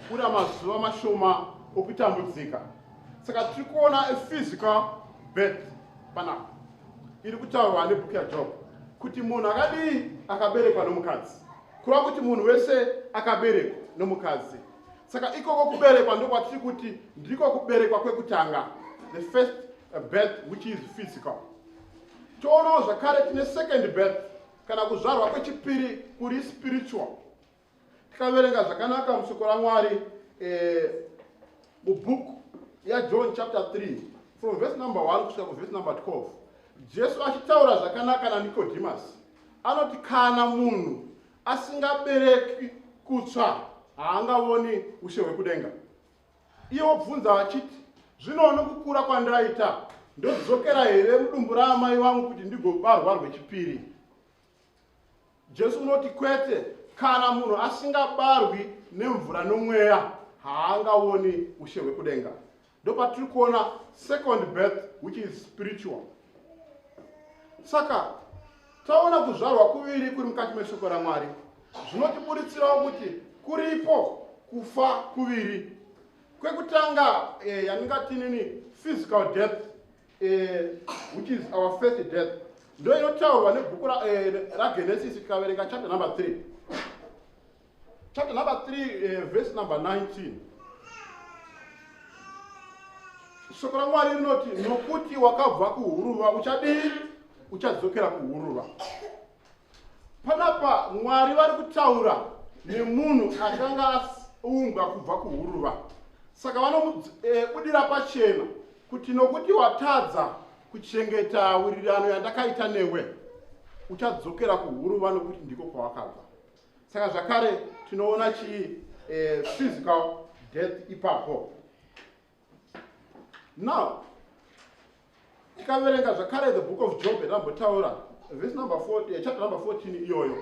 Kuna mazuva mashoma okutambudzika. Saka tiri kuona a physical birth panapa iri kutaurwa nebhuku yaJob kuti munhu akadii akaberekwa nomukadzi kureva kuti munhu wese akaberekwa nomukadzi saka ikoko kuberekwa ndokwatiri kuti ndiko kuberekwa kwekutanga the first birth which is physical toonawo zvakare tine second birth Kana kuzvarwa kwechipiri kuri spiritual, tikaverenga zvakanaka musoko raMwari eh, mubhuku yaJohn chapter 3 from verse number 1 kusvika kuverse number 12 jesu achitaura zvakanaka nanikodhimasi anoti kana munhu asingabereki kutsva haangavoni ushe hwekudenga Iye wobvunza vachiti, Zvino nokukura kwandaita, ndodzokera here mudumbu raamai vangu kuti ndigobarwa rwechipiri? Jesu unoti kwete, kana munhu asingabarwi nemvura nomweya haangaoni ushe hwekudenga. Ndopatiri kuona second birth which is spiritual. Saka taona kuzvarwa kuviri kuri mukati meshoko raMwari zvinotiburitsirawo kuti kuripo kufa kuviri kwekutanga eh, yandingatinini physical death eh, which is our first death ndo inotaurwa nebhuku ragenesisi eh, tikaverenga chapter number three chapter number 3 uh, eh, verse number 19 shoko ramwari rinoti nokuti wakabva kuhuruva uchadii uchadzokera kuhuruva panapa mwari vari kutaura nemunhu akanga aumbwa kubva kuhuruva saka vanobudira eh, pachena kuti nokuti watadza kuchengeta wirirano yandakaita newe uchadzokera kuhuruva nokuti ndiko kwawakabva saka zvakare tinoona chii eh, physical death ipapo now tikaverenga zvakare the book of job yatambotaura vhesi number 4 eh, chapter number 14 iyoyo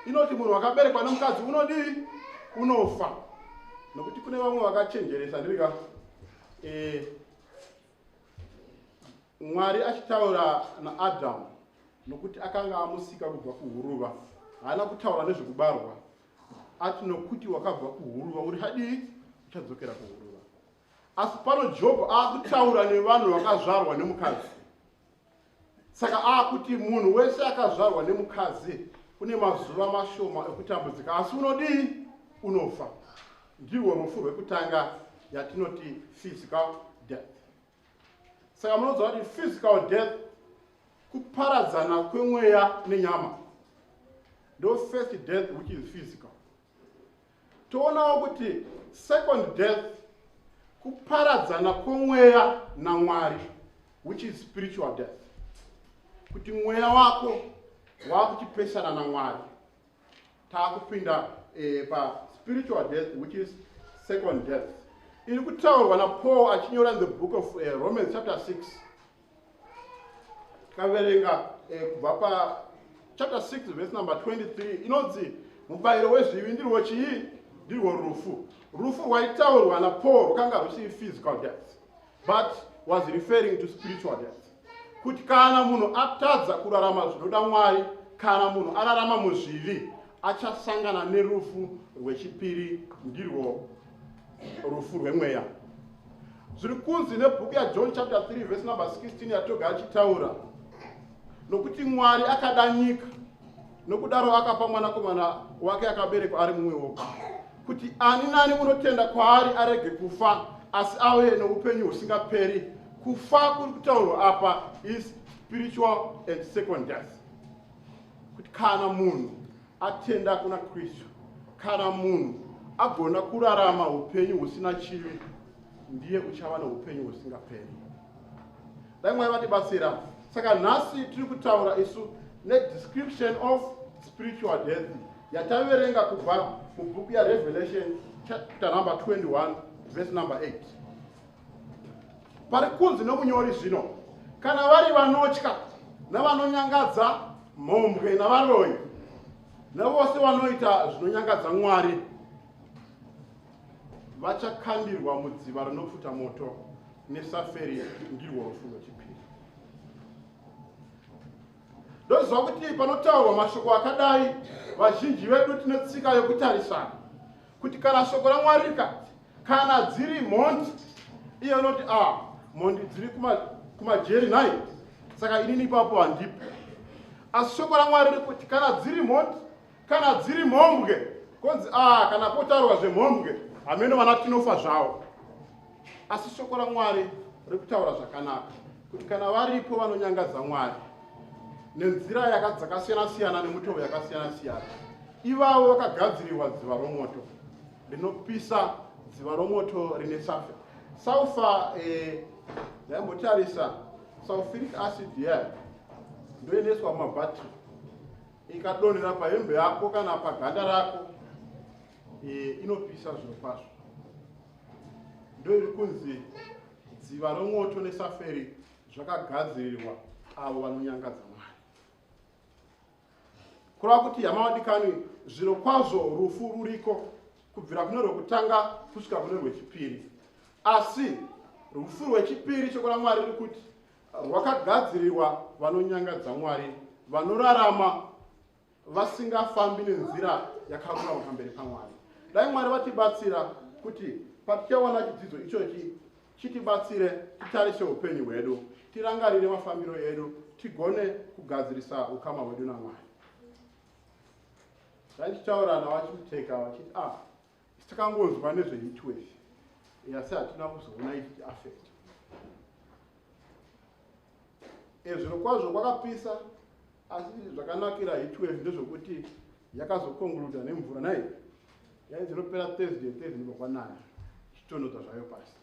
inoti munhu wakaberekwa nemukadzi unodii unofa nokuti kune vamwe vakachenjeresa ndirika eh, Mwari achitaura naAdhamu, nokuti akanga amusika kubva kuhuruva, haana kutaura nezvekubarwa, ati nokuti wakabva kuhuruva uri hadii uchadzokera kuhuruva. Asi pano Jobho akutaura nevanhu vakazvarwa nemukadzi. saka akuti munhu wese akazvarwa nemukadzi une mazuva mashoma ekutambudzika asi unodii unofa ndirwo rufu rwekutanga yatinoti physical death saka munonzwa kuti physical death kuparadzana kwemweya nenyama ndo first death which is physical Toonawo kuti second death kuparadzana kwomweya naMwari which is spiritual death. Kuti mweya wako wakuchipesana naMwari. Takupinda eh, pa spiritual death which is second death. Iri kutaurwa naPaul achinyora in the book of uh, Romans chapter 6 tikaverenga eh, kubva pachapter 6 vhesi number 23 inonzi mubayiro wezvivi ndirwo chii ndirwo rufu rufu rwaitaurwa napaul rwakanga rwusiri physical death but was referring to spiritual death kuti kana munhu atadza kurarama zvinoda mwari kana munhu ararama muzvivi achasangana nerufu rwechipiri ndirwo rufu rwemweya zviri kunzi nebhuku yajohn chapter 3 vhesi number 16 yatoga achitaura nokuti mwari akada nyika nokudaro akapa mwanakomana wake akaberekwa ari mumwe woga kuti ani nani unotenda kwaari arege kufa asi ave noupenyu husingaperi kufa kuri kutaurwa apa is spiritual and second death kuti kana munhu Atenda kuna Kristu, kana munhu agona kurarama upenyu husina chivi, ndiye uchava neupenyu husingaperi. Dai mwari vatibatsira. Saka nhasi tiri kutaura isu nedescription of spiritual death yataverenga kubva mubhuku yarevelation chapter number 21 verse number 8 pari kunzi nomunyori zvino kana vari vanotya navanonyangadza mhombwe navaroyi navose vanoita zvinonyangadza mwari vachakandirwa mudziva rinopfuta moto nesaferi ndirwo rufu rwechipiri ndoziva kuti panotaurwa mashoko akadai vazhinji vedu tine tsika yokutarisana kuti kana shoko ramwari rikati Kana dziri mhondi iye unoti a ah, mhondi dziri kumajeri kuma nhai saka inini ipapo handipo asi shoko ramwari riri kuti kana dziri mhondi kana dziri mhombwe konzi a ah, kana potaurwa zvemhombwe hameno vana tinofa zvavo asi shoko ramwari riri kutaura zvakanaka kuti kana varipo vanonyangadza mwari nenzira yakadzakasiyana-siyana nemutoo yakasiyana-siyana ivavo vakagadzirirwa dziva romoto rinopisa dziva romoto rine safe saufa eh, ndaimbotarisa eh, sulfuric acid yayo ndoendeswa mumabhatiri ikadonhera pahembe yako kana paganda rako eh, inopisa zviro kwazvo ndo iri kunzi dziva romoto nesaferi zvakagadzirirwa avo vanonyangadza kureva kuti hama wadikanwi zviro kwazvo rufu ruriko kubvira kune rwekutanga kusvika kune rwechipiri asi rufu rwechipiri shoko ramwari riri kuti rwakagadzirirwa vanonyangadza mwari vanorarama vasingafambi nenzira yakarurama pamberi pamwari dai mwari vatibatsira kuti patichawana chidzidzo ichochi Chitibatsire titarise hupenyu hwedu, tirangarire mafambiro edu, tigone kugadzirisa ukama hwedu naMwari. Zvandichitaura navachiteka vachiti ah, takangonzwa nezveHeatwave asi hatina kuzoona ichi affect Eeh zvirokwazvo kwakapisa asi zvakanakira heatwave ndezvekuti yakazokonguluda nemvura nai yai dzinopera Thursday Thursday ndibva kwanaya zvichitonodza zvayo pasi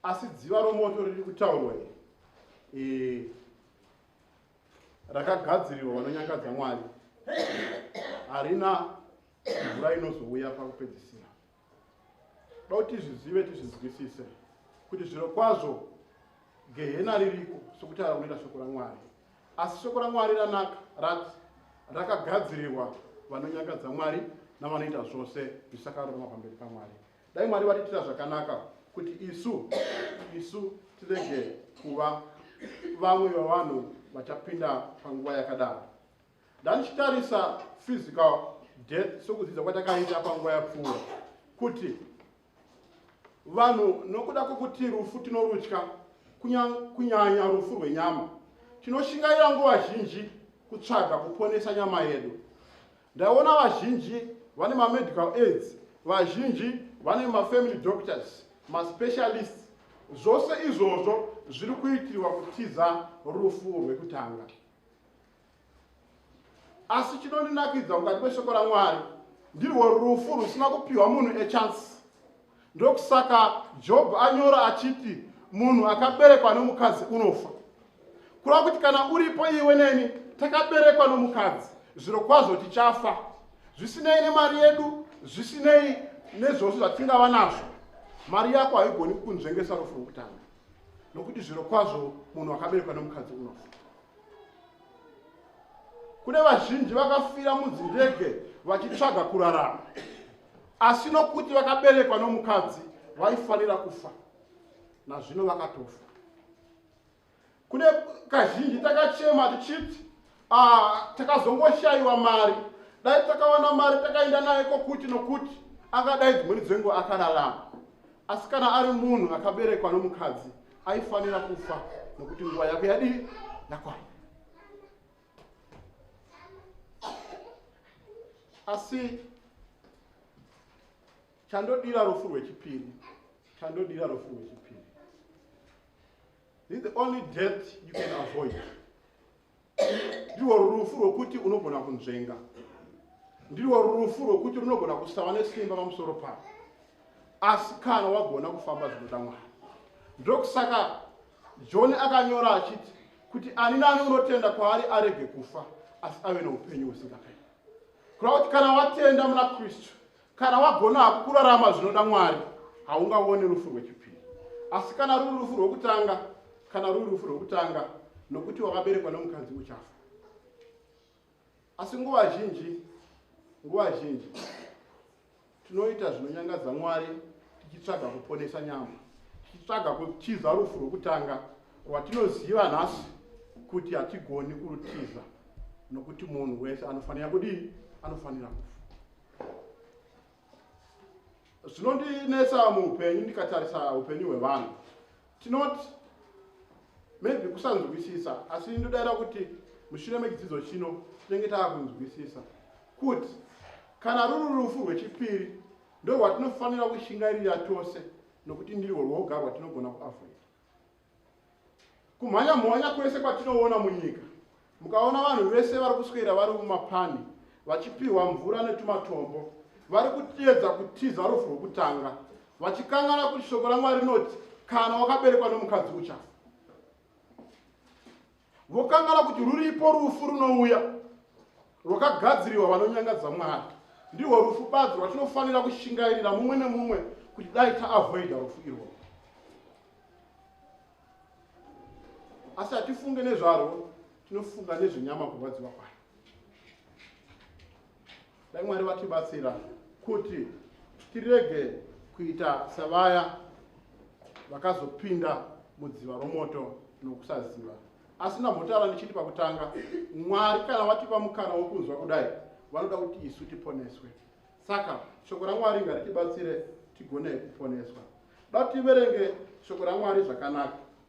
asi dziva romoto riri kutaurwa iri eeh rakagadzirirwa vanonyangadza Mwari harina mvura inozouya pakupedzisira Toda kuti tizvizive tizvinzwisise kuti zviro kwazvo gehena ririko sokuti araunira shoko raMwari. Asi shoko raMwari ranaka rati rakagadzirirwa vanonyangadza Mwari navanoita zvose zvisakarurama pamberi paMwari. Dai Mwari vatiitira zvakanaka kuti isu isu tirege kuva vamwe vavanhu vachapinda panguva yakadaro. Ndandichitarisa physical death sokudzidza kwatakaita panguva yapfuura kuti vanhu nokuda kwokuti rufu tinorutya kunyanya rufu rwenyama tinoshingaira nguva zhinji kutsvaga kuponesa nyama yedu ndaona vazhinji vane mamedical aids vazhinji vane mafamily doctors maspecialist zvose izvozvo zviri kuitirwa kutiza rufu rwekutanga asi chinondinakidza mukati meshoko ramwari ndirwo rufu rusina kupiwa munhu echance ndokusaka job anyora achiti munhu akaberekwa nomukadzi unofa kureva kuti kana uripo iwe neni takaberekwa nomukadzi zviro kwazvo tichafa zvisinei nemari yedu zvisinei nezvose zvatingava nazvo mari yako haigoni kunzvengesa rufu rwokutanga nokuti zviro kwazvo munhu akaberekwa nomukadzi unofa kune vazhinji vakafira mudzindege vachitsvaga kurarama asi nokuti vakaberekwa nomukadzi vaifanira kufa nazvino vakatofa kune kazhinji takachema tichiti ah, takazongoshayiwa mari dai takawana mari takaenda naye kokuti nokuti angadai dzimweni dzengo akararama Asi kana ari munhu akaberekwa nomukadzi aifanira kufa nokuti nguva yake yadii yakwana. Asi chandodira rufu rwechipiri chandodira rufu rwechipiri this is the only death you can avoid ndirwo rufu rwokuti unogona kunzvenga ndirwo rufu rwokuti runogona kusava nesimba pamusoro pavo asi kana wagona kufamba zvinoda mwari ndokusaka john akanyora achiti kuti ani nani unotenda kwaari arege kufa asi ave neupenyu husingaperi kureva kuti kana watenda muna kristu Kana wagona hako kurarama zvinoda Mwari, haungawoni rufu rwechipiri. Asi kana ruri rufu rwokutanga, kana ruri rufu rwokutanga, nokuti wakaberekwa nomukadzi uchafa. Asi nguva zhinji, nguva zhinji, tinoita zvinonyangadza Mwari tichitsvaga kuponesa nyama, tichitsvaga kutiza rufu rwokutanga rwatinoziva nhasi kuti hatigoni kurutiza nokuti munhu wese anofanira kudii? Anofanira kufa. zvinondinetsa muupenyu ndikatarisa upenyu hwevanhu tinoti maybe kusanzwisisa asi ndodaira kuti mushure mechidzidzo chino tinenge taakunzwisisa kuti kana ruri rufu rwechipiri ndo rwatinofanira kushingairira tose nokuti ndirwo rwoga rwatinogona kuavoida Kumhanya mhanya kwese kwatinoona munyika, mukaona vanhu vese vari kuswera vari mumapani vachipihwa mvura netumatombo, vari kutiedza kutiza rufu rwokutanga, vachikanganwa kuti shoko raMwari rinoti, Kana wakaberekwa nomukadzi uchafa. Vokanganwa kuti ruripo rufu runouya rwakagadzirirwa vanonyangadza Mwari. Ndirwo rufu badzi rwatinofanira kushingairira mumwe nemumwe kuti dai taavoida rufu irwo. Asi hatifunge nezvarwo, tinofunga nezvenyama kurwadziwa kwayo. Dai Mwari vatibatsira kuti tirege kuita savaya vakazopinda mudziva romoto nokusaziva. Asi ndambotaura ndichiti pakutanga, Mwari kana vatipa mukana wokunzwa kudai, vanoda kuti isu tiponeswe. Saka shoko raMwari ngaritibatsire tigone kuponeswa. Dati tiverenge shoko raMwari zvakanaka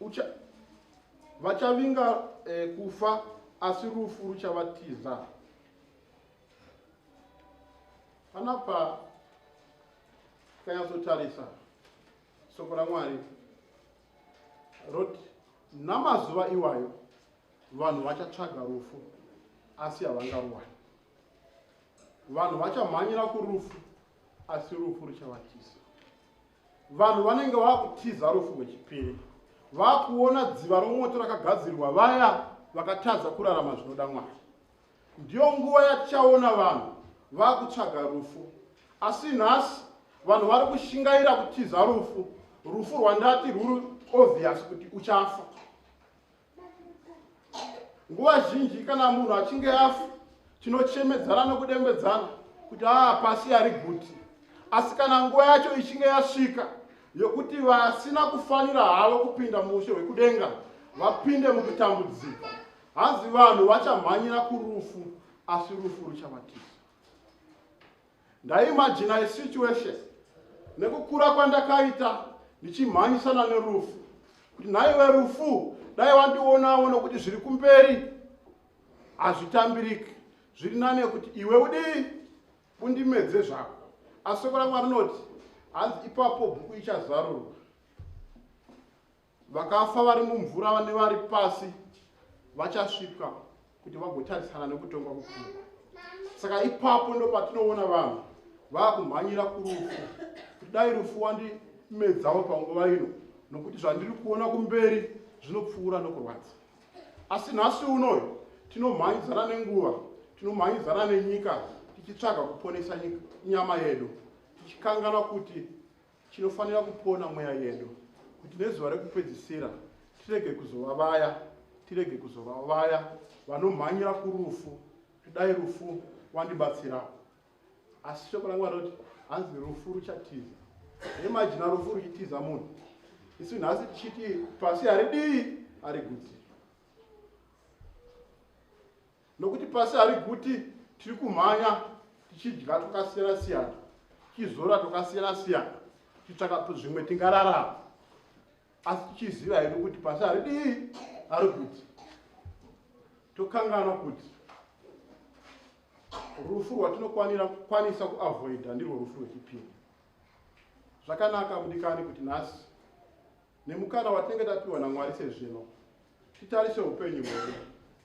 Ucha, vachavinga eh, kufa asi rufu ruchavatiza. Panapa tikanyatsotarisa soko ramwari roti namazuva iwayo vanhu vachatsvaga rufu asi havangaruwani vanhu vachamhanyira kurufu asi rufu ruchavatiza vanhu vanenge vakutiza rufu rwechipiri vakuona dziva romoto rakagadzirirwa vaya vakatadza kurarama zvinoda mwari ndiyo nguva yatichaona vanhu vakutsvaga rufu asi nhasi vanhu vari kushingaira kutiza rufu rufu rwandati rwuri obvious kuti uchafa nguva zhinji kana munhu achinge afa tinochemedzana nokudembedzana kuti aa ah, pasi ari guti asi kana nguva yacho ichinge yasvika yokuti vasina kufanira havo kupinda muushe hwekudenga vapinde mukutambudzika hanzi vanhu vachamhanyira kurufu asi rufu ruchavatiza Ndaimaginai situation nekukura kwandakaita ndichimhanyisana nerufu kuti nhaiwe rufu dai wandionawo nokuti zviri kumberi hazvitambiriki zviri nane kuti iwe udii undimedze zvako asi soko rangu arinoti hanzi ipapo bhuku ichazarurwa Vakafa vari mumvura vane vari pasi vachasvika kuti vagotarisana nekutongwa kukuru. Saka ipapo ndopatinoona vanhu vakumhanyira kurufu kuti dai rufu wandimedzawo panguva ino nokuti zvandiri kuona kumberi zvinopfuura nokurwadza asi nhasi unoyo tinomhanyidzana nenguva tinomhanyidzana nenyika tichitsvaga kuponesa nyama yedu tichikangana kuti Tinofanira kupona mweya yedu kuti nezuva rekupedzisira tirege kuzova vaya tirege kuzova vaya vanomhanyira kurufu kudai rufu wandibatsirawo asi shoko langu anoti hanzi rufu ruchatiza imajina rufu ruchitiza munhu isu nhasi tichiti pasi haridii harigutsi Nokuti pasi hari kuti tiri kumhanya tichidya tokasiyana siyana, tichizora tokasiyana siyana, tichitsvaka zvimwe tingararama. Asi tichiziva hedu kuti pasi hari dii hari kuti tokanganwa kuti rufu rwatinokwanira kukwanisa kuavoida ndirwo rufu rwechipiri. Zvakanaka mudikani kuti nhasi Nemukana watinenge tapiwa naMwari sezvino, titarise upenyu hwedu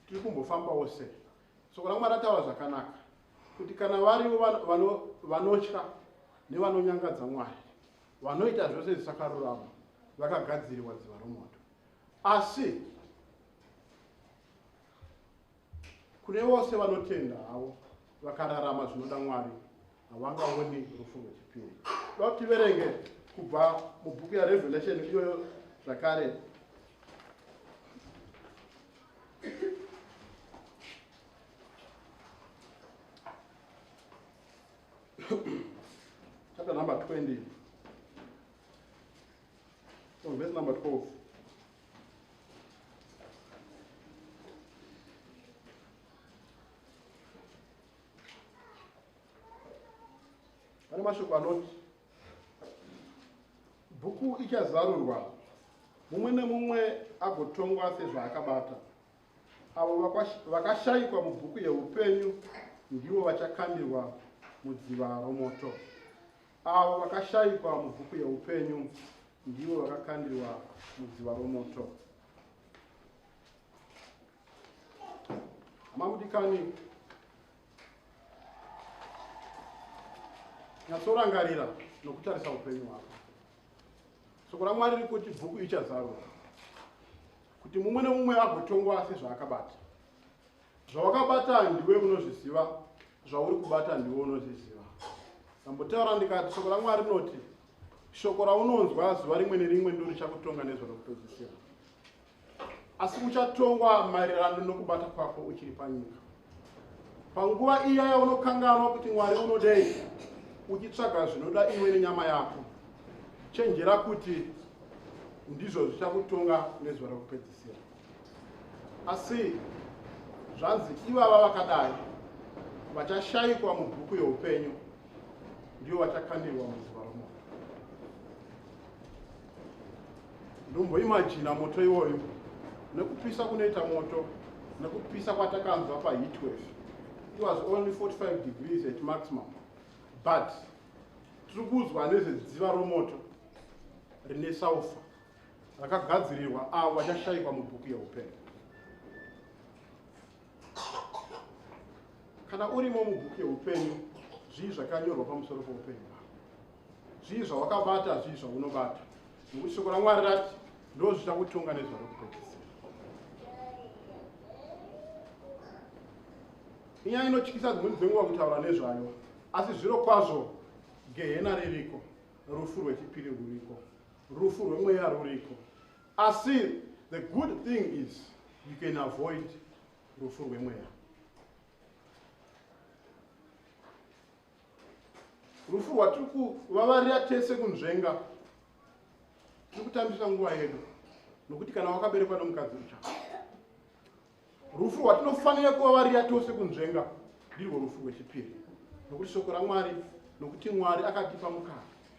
tiri kumbofambawo sei. Soko raMwari rataura zvakanaka kuti kana varivo vanotya nevanonyangadza Mwari, vanoita zvose zvisakarurama, vakagadzirirwa dziva romoto. Asi Kune vose vanotenda havo vakararama zvinoda Mwari havangaoni rufu rwechipiri. Toda kuti tiverenge kubva mubhuku yaRevelation iyoyo zvakare. chapter number 20 So verse number 12. Pane mashoko anoti bhuku ichazarurwa mumwe nemumwe agotongwa sezvaakabata avo vakashayikwa mubhuku yeupenyu ndivo vachakandirwa mudziva romoto Avo vakashaikwa mubhuku yeupenyu ndivo vakakandirwa mudziva romoto. Hama mudikani, nyatsorangarira nokutarisa upenyu hwako. Soko raMwari riri kuti bhuku ichazarurwa kuti mumwe nemumwe agotongwa sezvaakabata. Zvawakabata ndiwe unozviziva, zvauri kubata ndiwe unozviziva. Ndambotaura ndikati shoko raMwari rinoti, shoko raunonzwa zuva rimwe nerimwe ndiro richakutonga nezvaro kutozisira. Asi uchatongwa maererano nokubata kwako uchiri panyika. Panguva iya yaunokanganwa kuti Mwari unodei, uchitsvaga zvinoda iwe nenyama yako, chenjera kuti ndizvo zvichakutonga nezuva rokupedzisira. Asi zvanzi ivava vakadai vachashaikwa mubhuku youpenyu, ndivo vachakandirwa muzuva romoto. Ndomboimajina moto iwoyo nekupisa kunoita moto nekupisa kwatakanzwa paheatwave it was only 45 degrees at maximum but tiri kuudzwa nezvedziva romoto rine saufa rakagadzirirwa avo vachashaikwa mubhuku yeupenyu. Kana urimo mubhuku yeupenyu, zvii zvakanyorwa pamusoro poupenyu hwako? Zvii zvawakabata, zvii zvaunobata? Nokuti shoko raMwari rati ndo zvicha kutonga nezvaro kupedzisira. Inyaya inotyisa dzimweni dzenguva kutaura nezvayo, asi zviro kwazvo gehena ririko, rufu rwechipiri rwuriko. Rufu rwemweya ruriko asi the good thing is you can avoid rufu rwemweya. Rufu rwatiri kuvavarira tese kunzvenga tiri kutambisa nguva yedu nokuti kana wakaberekwa nomukadzi ucha rufu rwatinofanira kuvavarira tose kunzvenga ndirwo rufu rwechipiri nokuti shoko ramwari nokuti mwari akatipa mukana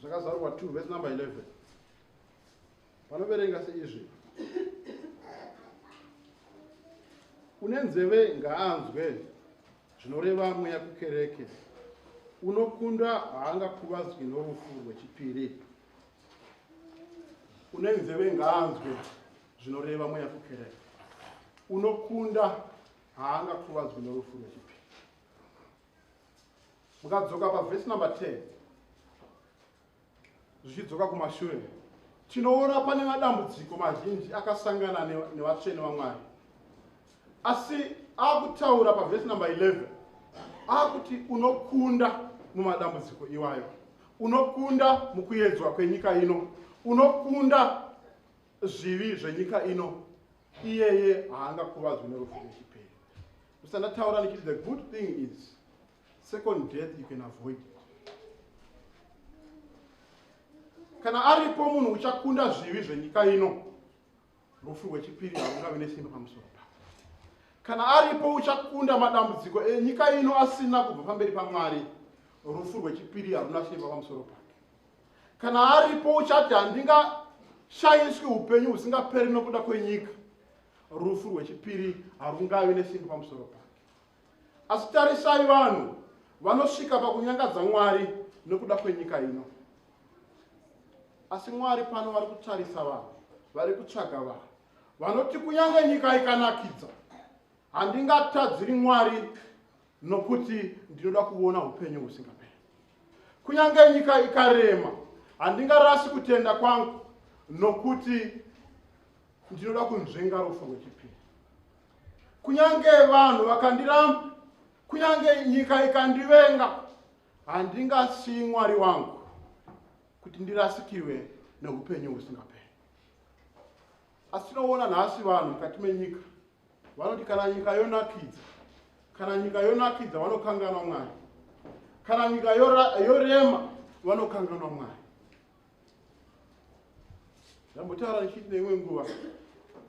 zvakazarurwa 2 vhesi number 11 panoverenga seizvi une nzeve ngaanzwe zvinoreva mweya kukereke unokunda haangakuvadzwi norufu rwechipiri une nzeve ngaanzwe zvinoreva mweya kukereke unokunda haangakuvadzwi norufu rwechipiri mukadzoka pavhesi number 10 zvichidzoka kumashure tinoona pane madambudziko mazhinji akasangana nevatsvene vamwari asi akutaura pavhesi number 11 akuti unokunda mumadambudziko iwayo unokunda mukuyedzwa kwenyika ino unokunda zvivi zvenyika ino iyeye haangakuvadzwi nerufu rechipere usandataura ndichiti the good thing is second death you can avoid it kana aripo munhu uchakunda zvivi zvenyika ino rufu rwechipiri harungavi nesimba pamusoro pako kana aripo uchakunda madambudziko enyika ino asina kubva pamberi pamwari rufu rwechipiri haruna simba pamusoro pako kana aripo uchati handinga shaiswi upenyu husingaperi nokuda kwenyika rufu rwechipiri harungavi nesimbi pamusoro pake asi tarisai vanhu vanosvika pakunyangadza mwari nokuda kwenyika ino asi mwari pano vari kutarisa vanhu vari kutsvaga vanhu vanoti kunyange nyika ikanakidza handingatadziri mwari nokuti ndinoda kuona upenyu husingaperi kunyange nyika ikarema handingarasi kutenda kwangu nokuti ndinoda kunzvenga rufu rwechipiri kunyange vanhu vakandiramba kunyange nyika ikandivenga handingasiyi mwari wangu kuti ndirasikirwe neupenyu husingaperi asi tinoona nhasi vanhu mukati menyika vanoti kana nyika yonakidza kana nyika yonakidza vanokanganwa mwari kana nyika yorema vanokanganwa mwari ndambotaura ndichiti neimwe nguva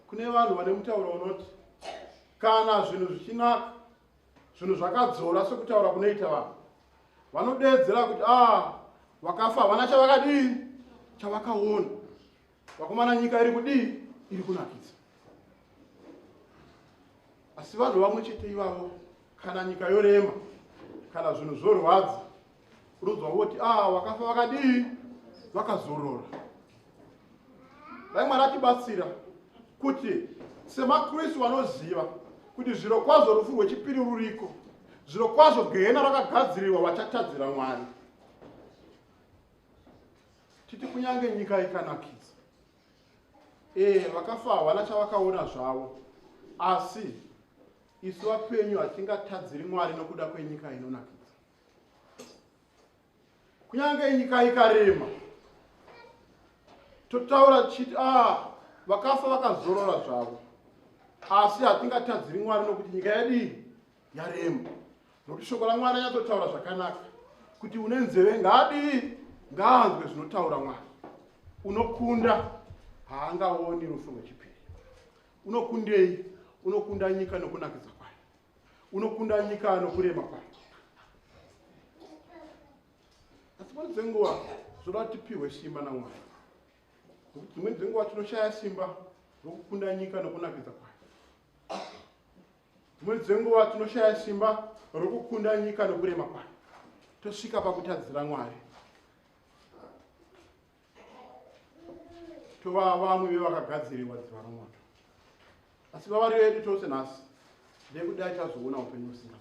kune vanhu vane mutauro unoti kana zvinhu zvichinaka zvinhu zvakadzora sekutaura kunoita vanhu vanodeedzera kuti a ah, vakafa havana chavakadii chavakaona vakomana nyika iri kudii iri kunakidza asi vanhu vamwe chete ivavo kana nyika yorema kana zvinhu zvorwadza unodzwa voti a ah, vakafa vakadii vakazorora dai mwari atibatsira kuti semakristu vanoziva kuti zviro kwazvo rufu rwechipiri ruriko zviro kwazvo gehena rakagadzirirwa vachatadzira mwari titi kunyange nyika ikanakisa ee vakafa havana chavakaona zvavo asi isu vapenyu hatingatadziri mwari nokuda kwenyika inonakidza kunyange nyika ikarema totaura tichiti a ah, vakafa vakazorora zvavo asi hatingatadziri mwari nokuti nyika yadii yaremu nokuti shoko ramwari anyatsotaura zvakanaka kuti une nzeve ngaadii ngaanzwe zvinotaura mwari unokunda haangaoni rufu rwechipiri unokundei unokunda nyika nokunakidza kwayo unokunda nyika nokurema kwayo asi pano dzenguva zvoda tipiwe simba namwari nokuti dzimweni dzenguva tinoshaya simba rokukunda nyika nokunakidza kwayo Dzimwe dzenguva tinoshaya simba rokukunda nyika nokurema kwayo, tosvika pakutadzira Mwari. Tova vamwe vevakagadzirirwa dziva romoto, asi vavari vedu tose nhasi ndekudai tazoona upenyu husina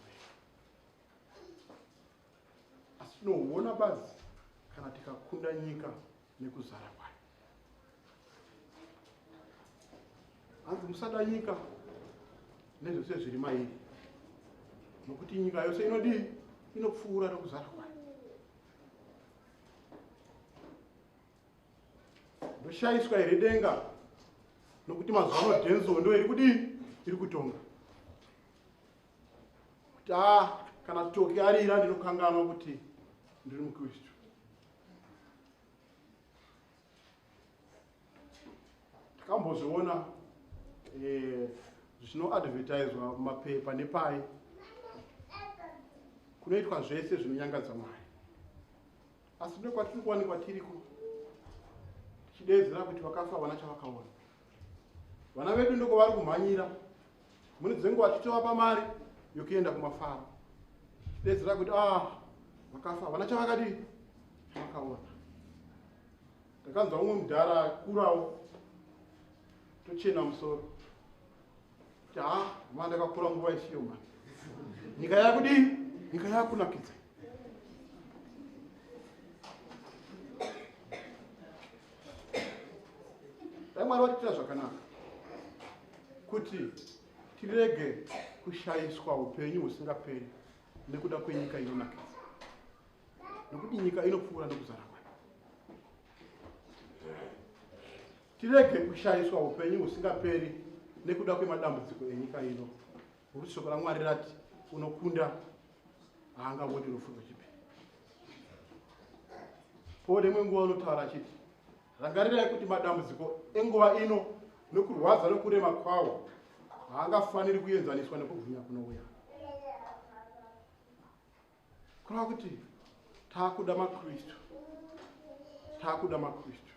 tinohuona bazi kana tikakunda nyika nekuzara kwayo hanzi musada nyika nezvose zviri mairi nokuti nyika yose inodii inopfuura nokuzara kwayo ndoshaiswa here denga nokuti mazuva ano denzo ndo iri kudii iri kutonga kuti a kana toki arira ndinokanganwa kuti ndiri mukristu takambozviona eh, zvinoadvertiswa mumapepa nepai kunoitwa zvese zvinonyangadza mwari asi ne kwatiri kuwanikwa tiriko tichideedzera kuti vakafa havana chavakaona vana vedu ndoko vari kumhanyira mune dzenguva achitovapa mari yokuenda kumafaro bedzi rakuti ah vakafa havana chavakadii vakaona ndakanzwa umwe mudhara akurawo tochena musoro kuti ha ah, ma ndakakura nguva isiyo ma nyika yakudii nyika yakunakidza dai mwari vatiitira zvakanaka kuti tirege kushaiswa upenyu husingaperi nekuda kwenyika inonakisa nokuti nyika inopfuura nokuzara kwayo tirege kushaiswa upenyu husingaperi nekuda kwemadambudziko enyika ino Nokuti shoko raMwari rati, Unokunda haangavoti unofunga chipi. Paul rimwe nguva unotaura achiti, Rangarirai kuti madambudziko enguva ino nokurwadza nokurema kwawo haangafaniri kuenzaniswa nekubwinya kunouya. Kureva kuti takuda maKristu, takuda maKristu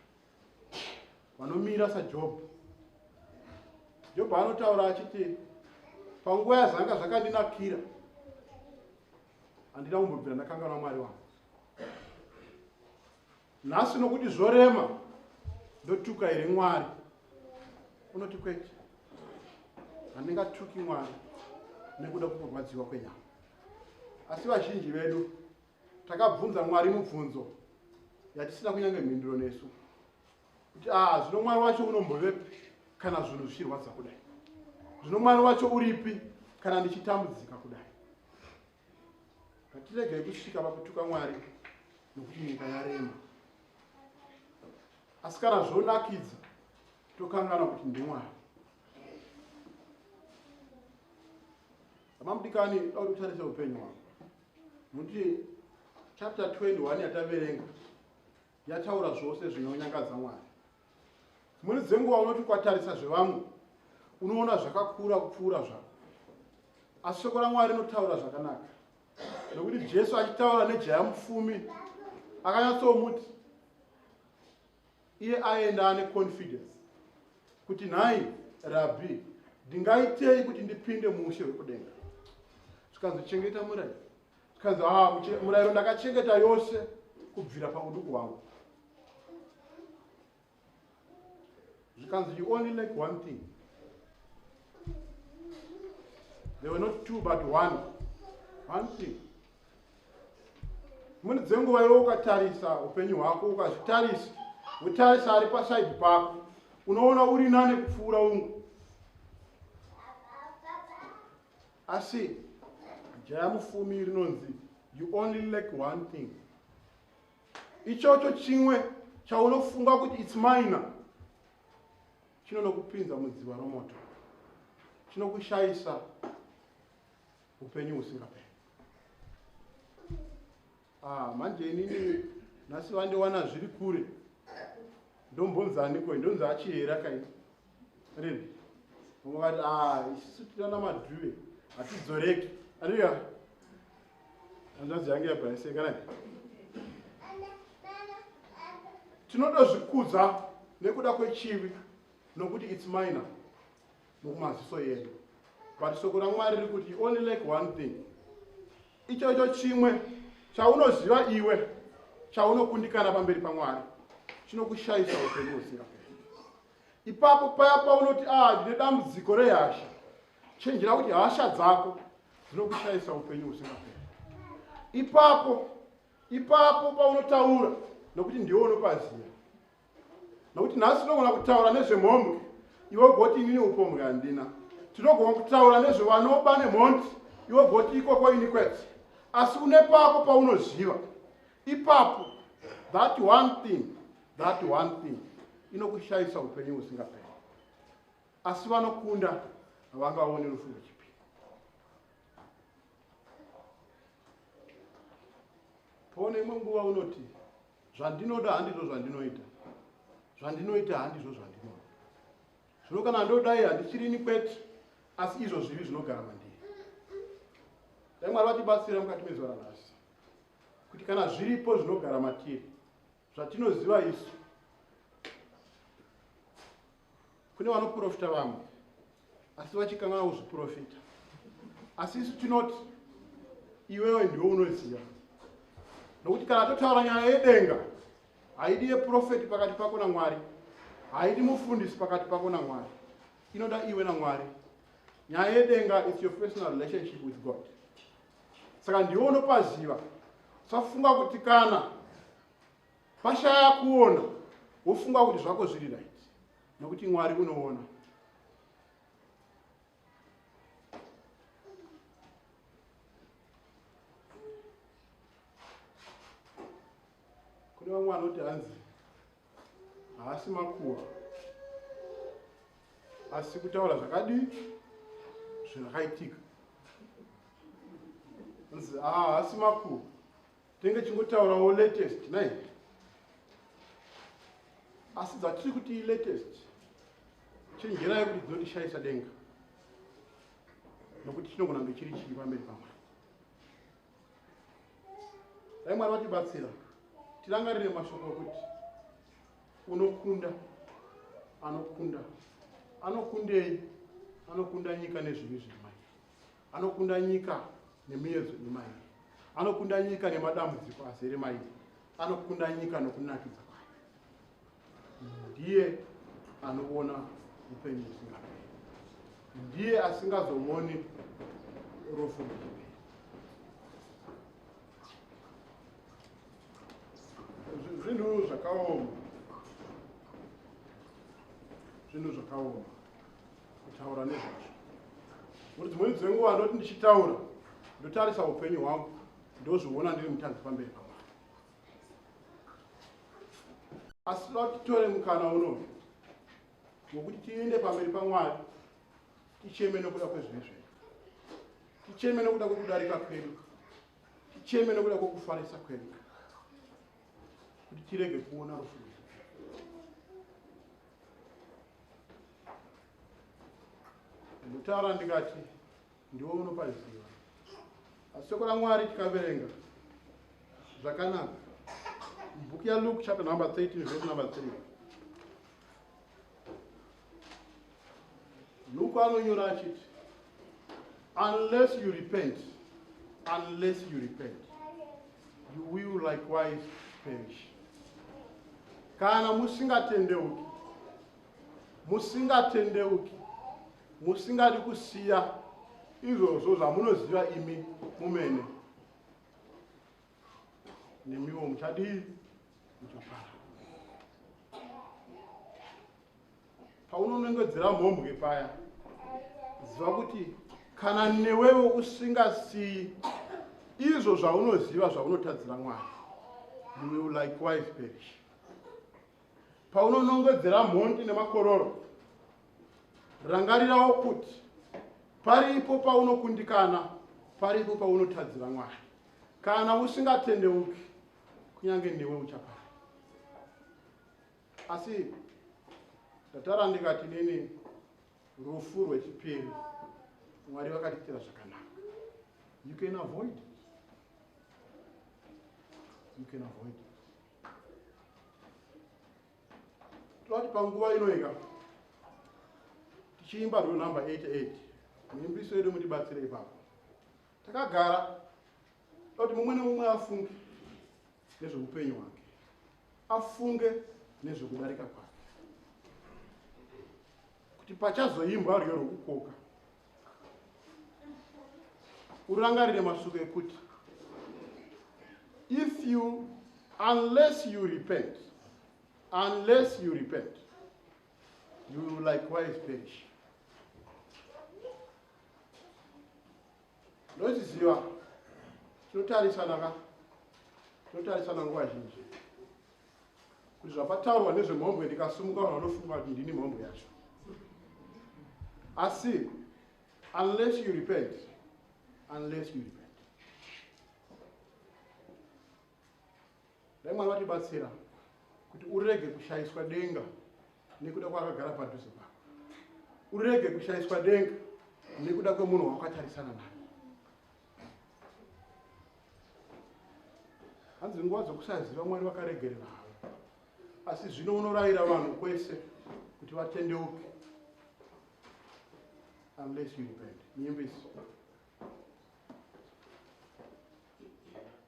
vanomira saJobho. Jobho anotaura achiti panguva yazvanga zvakandinakira handina kumbobvira ndakanganwa Mwari wangu. nhasi nokuti zvorema ndotuka here mwari unoti kwete handingatuki mwari nekuda kukurwadziwa kwenyama asi vazhinji vedu takabvunza mwari mubvunzo yatisina kunyange mhinduro nesu kuti a ah, zvino mwari wacho unombovepi kana zvinhu zvichirwadza kudai zvino mwari wacho uripi kana ndichitambudzika kudai Ngatiregei kusvika pakutuka Mwari nokuti nyika yarema. Asi kana zvonakidza tokanganwa kuti ndiMwari. Amamudikani dauri kutarisa upenyu hwako nokuti chapter 21 yataverenga yataura zvose zvinonyangadza Mwari. Dzimweni dzenguva unoti ukatarisa zvevamwe unoona zvakakura kupfuura zvako, asi shoko raMwari rinotaura zvakanaka, nokuti Jesu achitaura nejaya mupfumi akanyatsomuti iye aenda ane confidence kuti nhai rabhi ndingaitei kuti ndipinde muushe hwekudenga zvikanzi chengeta murayiro zvikanzi haa muche- murayiro ndakachengeta yose kubvira pauduku hwangu zvikanzi you only lack one thing there were not two but one one thing mune dzenguva iwe ukatarisa upenyu hwako ukazvitarisa wotarisa ari pasaidi pako unoona uri nane kupfuura umwe Asi jaya mufumi rinonzi you only lack one thing. Ichocho chimwe chaunofunga kuti it's minor chinonokupinza mudziva romoto chinokushaisa upenyu husingaperi. Ah, manje inini nhasi vandiwana zviri kure ndombonzaniko ndonzi achihera kai rini vamwe vati ah, isisu tinana madhuve hatidzoreki ariya hanzvanzi yange yabhaiseka nai tinodozvikudza nekuda kwechivi nokuti its minor nokumaziso yedu but soko ramwari riri kuti you only like one thing Ichocho chimwe chaunoziva iwe chaunokundikana pamberi paMwari chinokushaisa upenyu husingaperi. Ipapo paya paunoti ah, ndine dambudziko rehasha, chenjera kuti hasha dzako dzinokushaisa upenyu husingaperi. Ipapo ipapo paunotaura nokuti ndiwe unopaziva, nokuti nhasi tinogona kutaura nezvemhombwe iwe ugoti inini upombwe handina tinogona kutaura nezvevanoba nemhondi iwe ugoti ikoko ini kwete asi une pako paunoziva ipapo that one thing that one thing inokushayisa upenyu husingaperi asi vanokunda havangaoni rufu rwechipiri pone imwe nguva unoti zvandinoda handizvo zvandinoita zvandinoita handizvo zvandinoda zvino kana ndodai handichirini kwete asi izvo zvivi zvinogara mandiri dai mwari vatibatsira mukati mezuva ranhasi kuti kana zviripo zvinogara matiri zvatinoziva isu Kune vanoprofita vamwe asi vachikanganwa kuzviprofita, asi isu tinoti iwewe ndiwe unoziva, nokuti kana totaura nyaya yedenga haidi yeprofeti pakati pako naMwari, haidi mufundisi pakati pako naMwari, inoda iwe naMwari. Nyaya yedenga is your personal relationship with God. Saka ndiwe unopaziva. Safunga kuti kana pashaya kuona wofunga kuti zvako zviri right nokuti mwari unoona kune vamwe vanoti hanzi haasi makuwa asi kutaura zvakadii zvakaitika nzi haasi makuwa Tenge chingotaurawo latest nai. Asi dzatiri kuti latest chenjerai kuti dzinondishaisa denga nokuti chinogona kunge chiri chii pamberi pamwari dai mwari vatibatsira tirangarire mashoko okuti unokunda anokunda anokundei anokunda nyika nezvivi zvemai Anokunda nyika nemiyedzo ine mairi. Anokunda nyika nemadambudziko azere mairi. Anokunda nyika nokunakidza kwayo. Ndiye anoona upenyu husingaperi. Ndiye asingazooni rufu rwechiperi. Zvi- Zvinhu zvakaoma. Zvinhu zvakaoma. kutaura nezvazvo kuti dzimweni dzenguva ndoti ndichitaura ndotarisa upenyu hwangu ndozviona ndiri mutanzi pamberi pamwari asi vatitore mukana unoyu wokuti tiende pamberi pamwari ticheme nokuda kwezvivi zvedu ticheme nokuda kwekudarika kwedu ticheme nokuda kwekufarisa kwedu kuti tirege kuona rufu ndikutaura ndikati ndiwe unopaziva asi shoko ramwari tikaverenga zvakanaka bhuku yaluke chapter number 13 vese number 3 luke anonyora achiti unless you repent unless you repent You will likewise perish. Kana musingatendeuki, musingatendeuki, musingadi kusiya izvozvo zvamunoziva imi mumene, nemiwo muchadii? Muchapara. paunonongedzera mhombwe paya ziva kuti kana newewo usingasiyi izvo zvaunoziva zvaunotadzira mwari you will likewise perish paunonongedzera mhondi nemakororo rangarirawo kuti paripo paunokundikana paripo paunotadzira mwari kana usingatendeuki kunyange newe uchapara Asi ndatara ndikati nini rufu rwechipiri mwari vakatiitira zvakanaka you can avoid it. you can avoid it. toti panguva inoika tichiimba rwiyo number 88 muimbiso yedu mutibatsire ipapo takagara toti mumwe nemumwe afunge nezveupenyu hwake afunge nezvekudarika kwake kuti pachazoimbwa rwiyo rwokukoka urangarire mashoko ekuti if you unless you repent unless you repent you will likewise perish Ndochiziva tinotarisana ka tinotarisana nguva zhinji kuti zvapataurwa nezvemhombwe ndikasumuka vanhu vanofunga kuti ndini mhombwe yacho asi unless you repent unless you repent Dai Mwari vatibatsira kuti urege kushaiswa denga nekuda kwakagara padhuze pako. Urege kushaiswa denga nekuda kwemunhu wawakatarisana naye. Hanzi nguva dzokusaziva Mwari vakaregerera havo. Asi zvino unorayira vanhu kwese kuti vatendeuke unless you repent. Nyimbisi.